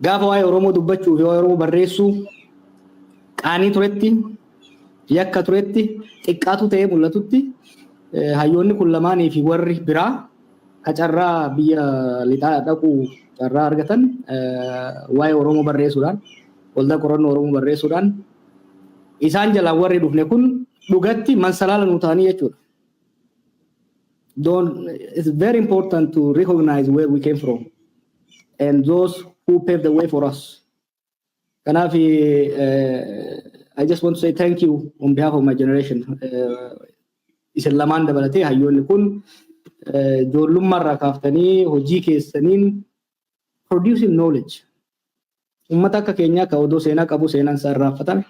Gaafa waa'ee Oromoo dubbachuu fi waa'ee Oromoo barreessuu qaanii turetti, yakka turetti, xiqqaatu ta'ee mul'atutti hayyoonni kun lamaanii fi warri biraa ka carraa biyya lixaa dhaquu carraa argatan waa'ee Oromoo barreessuudhaan, waldaa qorannoo Oromoo barreessuudhaan isaan jalaan warri dhufne kun dhugatti mansalaala nuu ta'anii jechuudha. Don't, it's very important to recognize where we came from. and those who paved the way for us. Kanaaf I just want to say thank you on behalf of my generation. Isin lamaan dabalatee hayyoonni kun ijoollummaarraa kaaftanii hojii keessaniin producing knowledge. Uummata akka keenyaa ka odoo seenaa qabu seenaan isaa irraanfatame,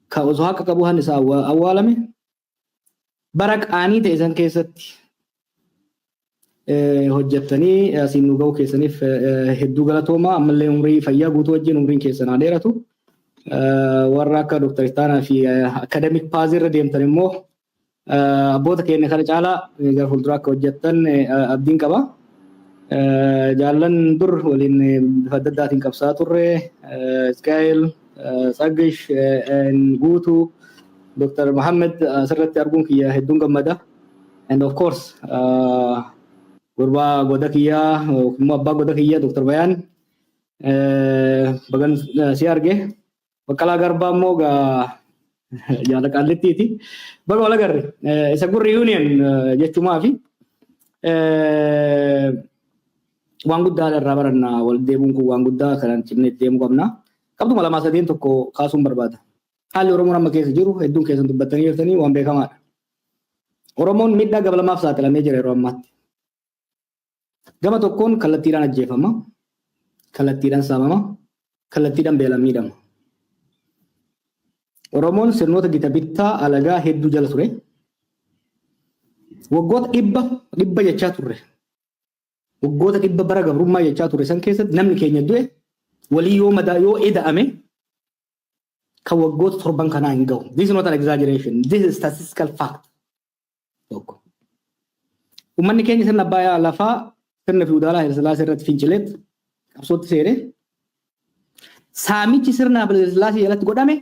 ka osoo haqa qabu hanni isaa awwaalame, Bara qaanii ta'e san keessatti hojjettanii asiin nu ga'uu keessaniif hedduu galatoomaa ammallee umrii fayyaa guutuu wajjin umriin keessan haa dheeratu. Warra akka Dr. Ittaanaa fi Akademik Paazii irra deemtan immoo abboota keenya kana caalaa gara fuulduraa akka hojjettan abdiin qaba. Jaallan dur waliin bifa adda addaatiin qabsaa turre Isqaa'el Tsaggash and Guutu, Dr. Mohammed asirratti arguun kiyya hedduun gammada. And of course gurbaa goda kiyyaa yookiin immoo abbaa goda kiyyaa Dr. Bayaan bagan si arge. Baqqalaa Garbaa immoo gaa jaala qaallittiiti. Baga wal agarre. Isa gurri union jechumaafi. Waan guddaadha irraa baranna walitti deemuun kun waan guddaa kanaan cimnee itti deemuu qabna. Qabxuma lamaa sadeen tokko kaasuun barbaada. Haalli Oromoon amma keessa jiru hedduun keessan dubbattanii jirtanii waan beekamaadha. Oromoon miidhaa gama lamaaf saaxilamee jira yeroo ammaatti. Gama tokkoon kallattiidhaan ajjeefama, kallattiidhaan saamama, kallattiidhaan beelaan miidhama. Oromoon sirnoota gita bittaa alagaa hedduu jala ture. Waggoota dhibba dhibba jechaa turre. Waggoota dhibba bara gabrummaa jechaa ture san keessatti namni keenya du'e walii yoo madaa yoo eda'ame kan waggoota torban kanaa hin ga'u. This is not an exaggeration. This is statistical fact. Tokko. Uummanni keenya sirna abbaa lafaa sirna fiwudaalaa Hayilasillaasee irratti fincileet qabsootti seene. Saamichi sirna Hayilasillaasee jalatti godhame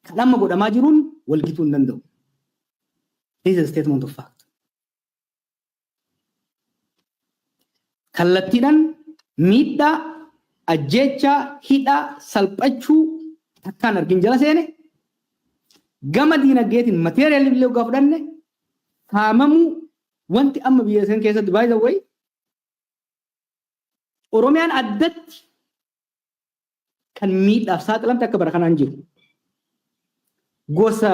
kan amma godhamaa jiruun walgituu hin danda'u. This is a statement of fact. kallattiidhaan miidhaa, ajjeechaa, hidhaa, salphachuu takkaan argin jala seene gama diinagdeetiin material illee oggaa fudhanne saamamuu wanti amma biyya san keessatti by the way Oromiyaan addatti kan miidhaaf saaxilamte akka bara kanaa hin jiru. Gosa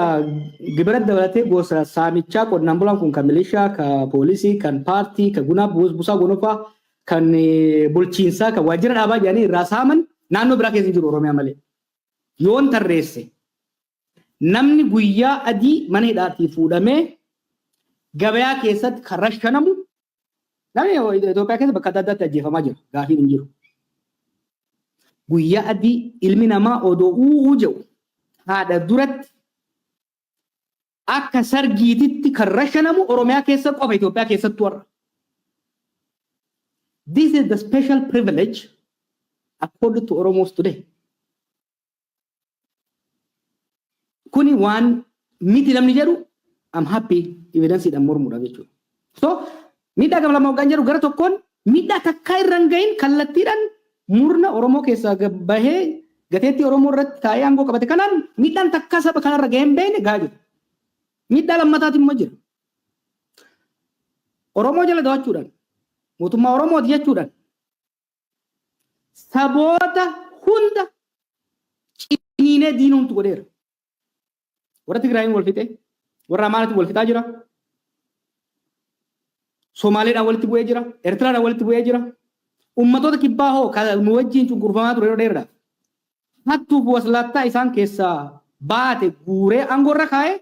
gibira dabalatee gosa saamichaa qonnaan bulaan kun kan milishaa, kan poolisii, kan paartii, kan gunaa busaa gonofaa, kan bulchiinsaa, kan waajjira dhaabaa jedhanii irraa saaman naannoo biraa keessa hin jiru Oromiyaa malee. Yoon tarreesse Namni guyyaa adii mana hidhaatii fuudhamee gabayaa keessatti kan rashanamu namni Itoophiyaa keessa bakka adda addaatti ajjeefamaa jira. Gaafiin hin jiru. Guyyaa adii ilmi namaa odoo uuu jedhu haadha duratti akka sargiititti kan rashanamu Oromiyaa keessa qofa Itoophiyaa keessatti warra. This is the special privilege accorded to Oromos today. Kuni waan miti namni jedhu I'm happy evidence dhaan mormuudhaaf jechuudha. So miidhaa gama lama hoggaan jedhu gara tokkoon miidhaa takkaa irra hin gahin kallattiidhaan murna Oromoo keessaa gad bahee gateettii Oromoo irratti taa'ee aangoo qabate kanaan miidhaan takkaa saba kanarra gahee hin beekne gahaa jira. Miidhaa lammataati immoo jira. Oromoo jala dawachuudhaan mootummaa Oromooti jechuudhaan saboota hunda ciniinee diina hundumtu godheera. Warra Tigraayiin wal fixee, warra Amaaratiin wal fixaa jira. Somaaleedhaan walitti bu'ee jira. Eertiraadhaan walitti bu'ee jira. Ummatoota kibbaa hoo kan nu wajjin cunqurfamaa ture yeroo dheeraadhaaf. hattuu fi waslaattaa isaan keessaa baate guuree aangoo irra kaa'ee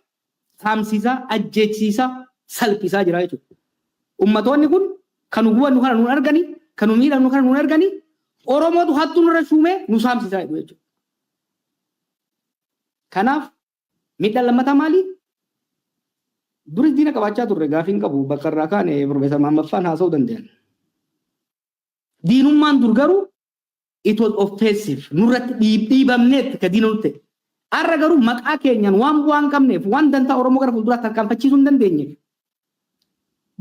saamsiisaa, ajjeechsiisaa, salphisaa jira jechuudha. Ummatoonni kun kan nu gubannu kana nuun arganii, kan nu miidhamnu kana nuun arganii, Oromootu hattuu nurra shuumee nu saamsisaa jedhu jechuudha. Kanaaf miidhaan lammataa maalii? Duris diina qabaachaa turre gaafiin qabu bakka irraa kaane Profeesar Mahammad Faan haasa'uu danda'an. Diinummaan dur garuu it was offensive nurratti dhiibamneetti ka diina nutti arra garuu maqaa keenyaan waan bu'aa hin qabneef waan dantaa oromoo gara fuulduraa tarkaanfachiisuu hin dandeenyeef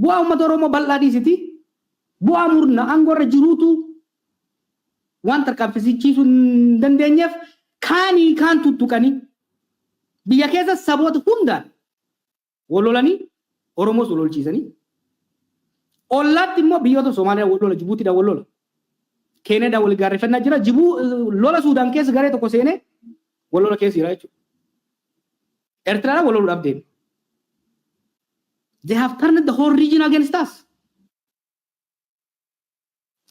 bu'aa uummata oromoo bal'aa dhiisiti bu'aa murna aangoo irra jiruutu waan tarkaanfachiisuu hin dandeenyeef kaanii kaan tuttuqanii biyya keessa saboota hundaan Wal lolanii Oromoos wal lolchiisanii ollaatti immoo biyyoota Somaaliyaa wal lola Jibuutiidhaan wal lola. Keeniyaadhaan wal gaarreffannaa jira. Jibuu lola Suudaan keessa garee tokko seenee wal lola keessa jira jechuudha. Ertiraadhaan wal loluudhaaf deeme. They have turned the whole region against us.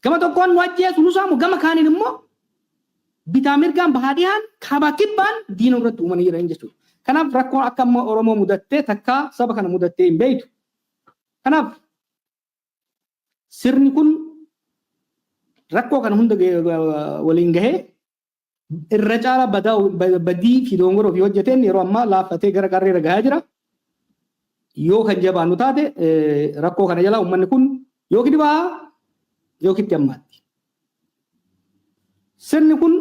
Gama tokkoon nu ajjeesu, nu saamu, gama kaaniin immoo bitaa mirgaan bahaa dhihaan, kaabaa kibbaan diina nurratti uumanii jiran jechuudha. Kanaaf rakkoon akka amma Oromoo mudattee takkaa saba kana mudattee hin beektu. Kanaaf sirni kun rakkoo kana hunda waliin gahee irra caalaa badaa badii fi dogongora ofii hojjeteen yeroo ammaa laaffatee gara qarree irra gahaa jira. Yoo kan jabaannu taate rakkoo kana jalaa uummanni kun yookiin ni baha yookiin itti hammaatti. Sirni kun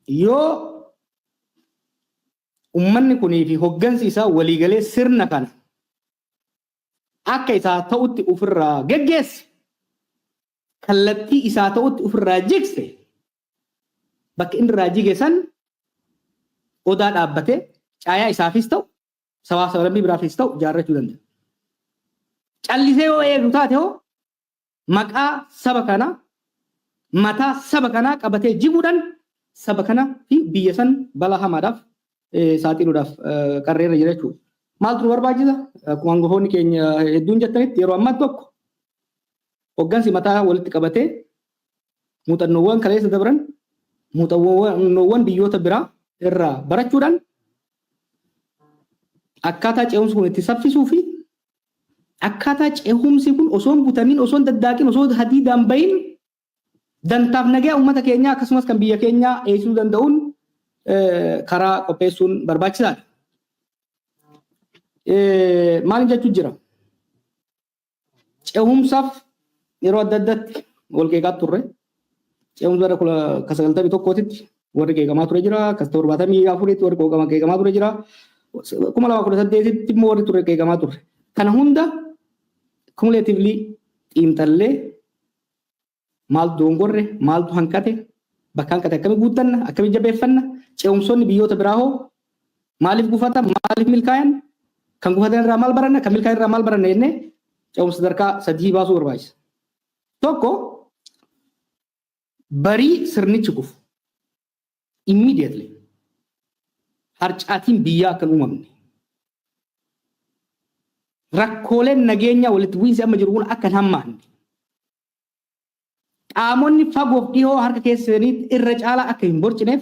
yoo uummanni kunii fi hoggansi isaa waliigalee sirna kana akka isaa ta'utti ofirraa geggeesse kallattii isaa ta'utti ofirraa jigse bakka inni irraa jige san odaa dhaabbatee caayaa isaafis ta'u sabaa sablammii biraafis ta'u ijaarrachuu danda'a. Callisee yoo eegu taate hoo maqaa saba kanaa mataa saba kanaa qabatee jiguudhaan saba kana fi biyya san balaa hamaadhaaf saaxiluudhaaf qarree irra jira jechuudha. Maaltu nu barbaachisa? Akkuma hangafoonni keenya hedduun jettanitti yeroo ammaa tokko Hoggansi mataa walitti qabatee muuxannoowwan kaleessa dabran muuxannoowwan biyyoota biraa irraa barachuudhaan akkaataa ce'umsi kun itti saffisuu fi akkaataa ce'umsi kun osoo hin butamiin osoo hin daddaaqin osoo hadiidaan bahin dantaaf nagaa uummata keenyaa akkasumas kan biyya keenyaa eegsisuu danda'uun karaa qopheessuun barbaachisaadha. Maal jechuu jira? Ce'umsaaf yeroo adda addaatti wal qeeqaa turre. Ce'umsa irra kula ka sagaltamii tokkootitti warri qeeqamaa ture jira. Kas torbaatamii afuritti warri qooqama qeeqamaa ture jira. Kuma lama kudha saddeetitti immoo warri ture qeeqamaa turre. Kana hunda cumulatively xiinxallee Maal doongorre? Maaltu hanqate? Bakka hanqate akkami guuttanna? Akkami jabeeffanna? Ce'umsoonni biyyoota biraa hoo maaliif gufatan? Maaliif milkaayan? Kan gufatan irraa maal baranna? Kan milkaayan irraa maal baranna jennee ce'umsa sadarkaa sadii baasuu barbaachisa. Tokko barii sirnichi kufu immediately harcaatiin biyyaa akka hin uumamne rakkooleen nageenyaa walitti bu'iinsi amma jiru kun akka hin hammaanne Qaamonni fagoof dhihoo harka keessa seenanii irra caalaa akka hin borcineef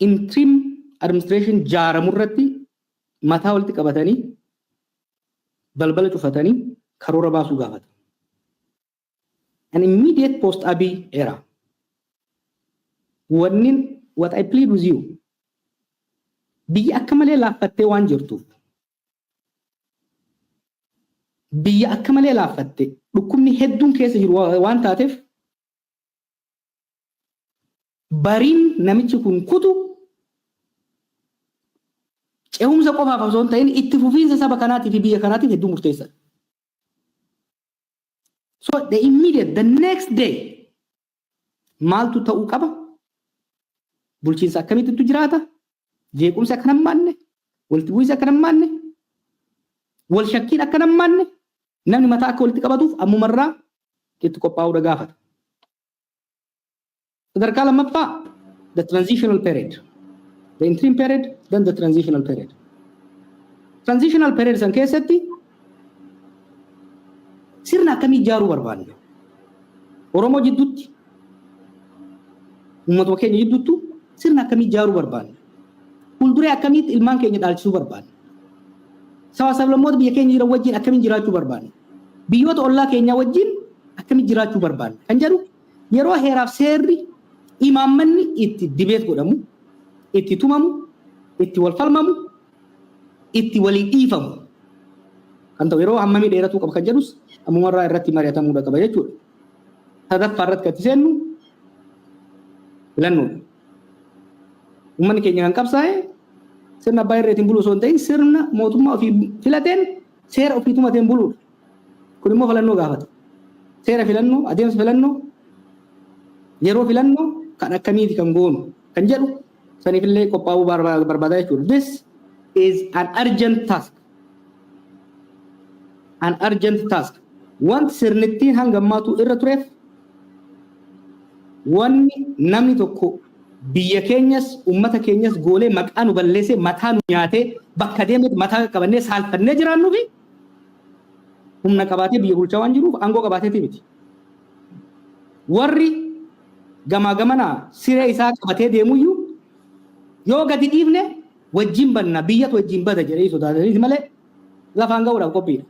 interim administration jaaramu irratti mataa walitti qabatanii balbala cufatanii karoora baasuu gaafata. An immediate post Abiy era. Wannin what I plead with you biyyi akka malee laaffattee waan jirtuuf biyya akka malee laaffatte dhukkubni hedduun keessa jiru waan taateef bariin namichi kun kutu cehumsa qofaaf osoo hin ta'in itti fufiinsa saba kanaatii fi biyya kanaatiif hedduu murteessaadha. So the immediate, the next day Maaltu ta'uu qaba? Bulchiinsa akkamiittu jiraata? Jeequmsi akka hammaanne, walitti bu'iinsi akka hammaanne, wal shakkiin akka hammaanne namni mataa akka walitti qabatuuf ammumarraa itti qophaa'uudha gaafata. Sadarkaa lammaffaa the transitional period. The interim period, then the transitional period. Transitional period san keessatti Sirna akkamii ijaaruu barbaanna? Oromoo jidduutti, uummatuma keenya jidduuttu sirna akkamii ijaaruu barbaanna? Fuulduree akkamiitti ilmaan keenya dhaalchisuu barbaanna? Sabaa sablammoota biyya keenya jiran wajjin akkamiin jiraachuu barbaanna? Biyyoota ollaa keenyaa wajjin akkamiin jiraachuu barbaanna? Kan jedhu yeroo heeraaf seerri imaammanni itti dibeet godhamu, itti tumamu, itti wal falmamu, itti walii dhiifamu kan ta'u yeroo hammamii dheeratuu qaba kan jedhus ammumarraa irratti mari'atamuudha qaba jechuudha. Sadaffaa irratti kan itti seennu filannoodha. Uummanni keenya kan qabsaa'e sirna abbaa irreetiin buluu osoo hin ta'in sirna mootummaa ofii filateen seera ofii tumateen buluudha. Kun immoo filannoo gaafata. Seera filannoo, adeemsa filannoo, yeroo filannoo kan akkamiiti kan goonu kan jedhu Saniif illee qophaa'uu barbaada jechuudha. This is an urgent task. An urgent task. Wanti sirnittiin hanga ammaatu irra tureef wanni namni tokko biyya keenyas ummata keenyas goolee maqaa nu balleessee mataa nu nyaatee bakka deemetti mataa qaqqabannee saalfannee jiraannuu fi humna qabaatee biyya bulchaa waan jiruuf aangoo qabaateeti miti. Warri gamaa gamana siree isaa qabatee deemuyyuu yoo gadi dhiifne wajjin banna biyyatu wajjin bada jedhanii sodaataniiti malee lafaan ga'uudhaaf qophiidha.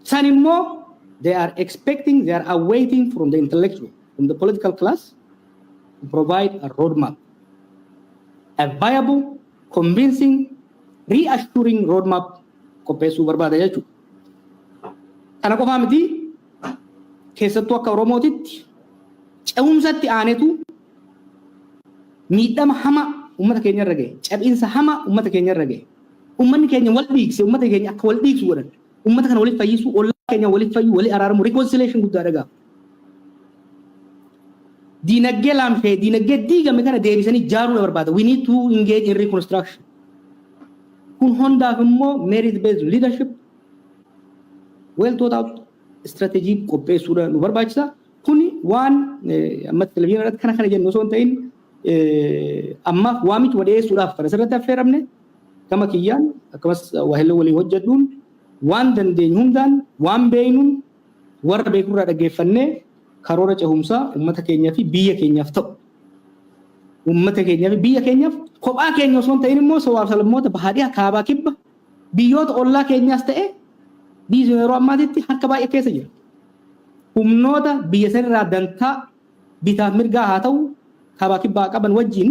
San immoo they are expecting, they are awaiting from the intellectual, from the political class to provide a roadmap, a viable, convincing, reassuring roadmap qopheessuu barbaada jechuudha. Kana qofaa miti keessattuu akka Oromootitti ce'umsatti aanetu miidhama hamaa uummata keenya irra gahe, cabiinsa hamaa uummata keenya irra gahe, uummanni keenya wal dhiigse, uummata keenya akka wal dhiigsu godhan, uummata kana waliif fayyisuu, ollaa keenya waliif fayyuu, walii araaramu, reconciliation guddaadha gaaf. Diinagdee laamsha'e, diinagdee diigame kana deebisanii jaaruudha barbaada. We need to engage in reconstruction. Kun hundaaf immoo merit based leadership well thought out strategy qopheessuudha nu barbaachisa. Kuni waan ammatti televizyiina irratti kana kana jennu osoo hin ta'in ammaaf waamichuma dhiyeessuudhaaf kan asirratti affeeramne gama kiyyaan akkasumas waahillee walii hojjedhuun waan dandeenyu hundaan waan beeknuun Warra beekurraa dhaggeeffannee karoora cehumsaa ummata keenyaa fi biyya keenyaaf ta'u ummata keenyaa fi biyya keenyaaf kophaa keenya osoo hin ta'in immoo sabaaf sablammoota bahaa dhiha kaabaa kibba biyyoota ollaa keenyaas ta'e biyyi sun yeroo ammaatitti harka baay'ee keessa jira. Humnoota biyya sanirraa dantaa bitaaf mirgaa haa ta'u kaabaa kibbaa qaban wajjin